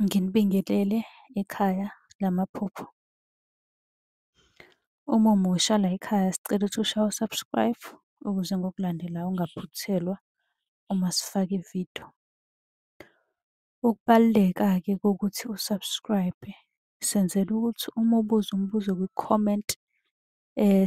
Nginibingelele ekhaya lamaphupho. Uma umusha la ekhaya sicela ukuthi ushaye u-subscribe ukuze ngokulandelayo ungaphuthelwa uma sifaka ividiyo. Ukubaluleka-ke kokuthi u-subscribe senzela ukuthi uma ubuza umbuzo kwi-comment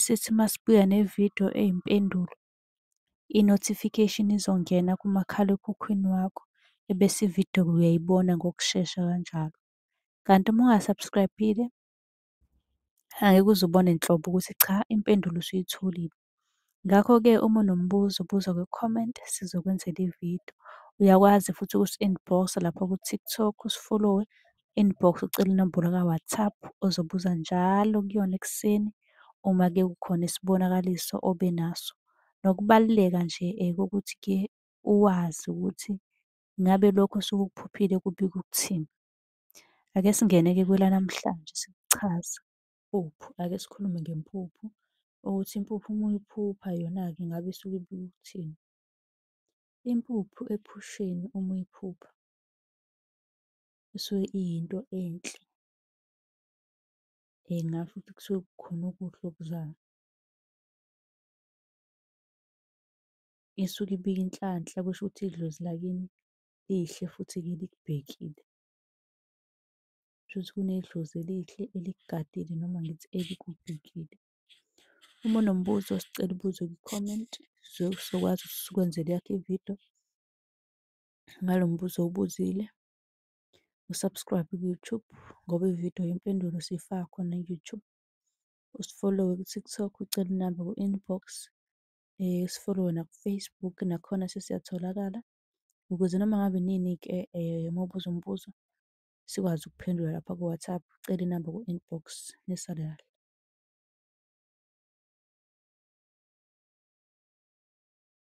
sithi masibuya nevidiyo eyimpendulo i-notification izongena kumakhalekhukhwini wakho ebese ividiyo uyayibona ngokushesha kanjalo. Kanti uma unga-subscribe-ile angeke uze ubone nhlobo ukuthi cha impendulo usuyitholile. Ngakho-ke uma unombuzo buza kwi-comment sizokwenzela ividiyo. Uyakwazi futhi ukusi-inbox-a lapha ku-TikTok usifolowe inbox ucele inombolo ka-WhatsApp ozobuza njalo kuyona ekuseni uma ke kukhona isibonakaliso obe naso. Nokubaluleka nje kokuthi ke uwazi ukuthi ngabe lokho osuke ukuphuphile kubika ukuthini. Ake singene-ke kwelanamhlanje sikuchaza. Iphupho, ake sikhulume ngempuphu ukuthi impuphu uma uyiphupha yona-ke ngabe isuke ibika ukuthini. Impuphu ephusheni uma uyiphupha. kusuke iyinto enhle. Ngingasho ukuthi kusuke kukhona okuhle okuzayo. Isuke ibika inhlanhla kusho ukuthi idlozi lakini lihle futhi likubhekile. Kushuthi kunedlozi elihle elikugadile noma ngithi elikubhekile. Uma unombuzo sicela ubuze kwi-comment, sizobe sizokwazi ukuthi sikwenzele eyakho i-video. ngalo mbuzo owubuzile. U-subscribe ku-YouTube ngoba ividiyo yempendulo siyifaka khona ku-YouTube. Usifollowe ku-TikTok ucele inamba ku-inbox. Eh, usifollowe naku-Facebook nakhona sesiyatholakala ukuze noma ngabe nini-ke eh, uma ubuza umbuzo sikwazi ukuphendula lapha ku-WhatsApp. Ucele inamba ku-inbox nisale kahle.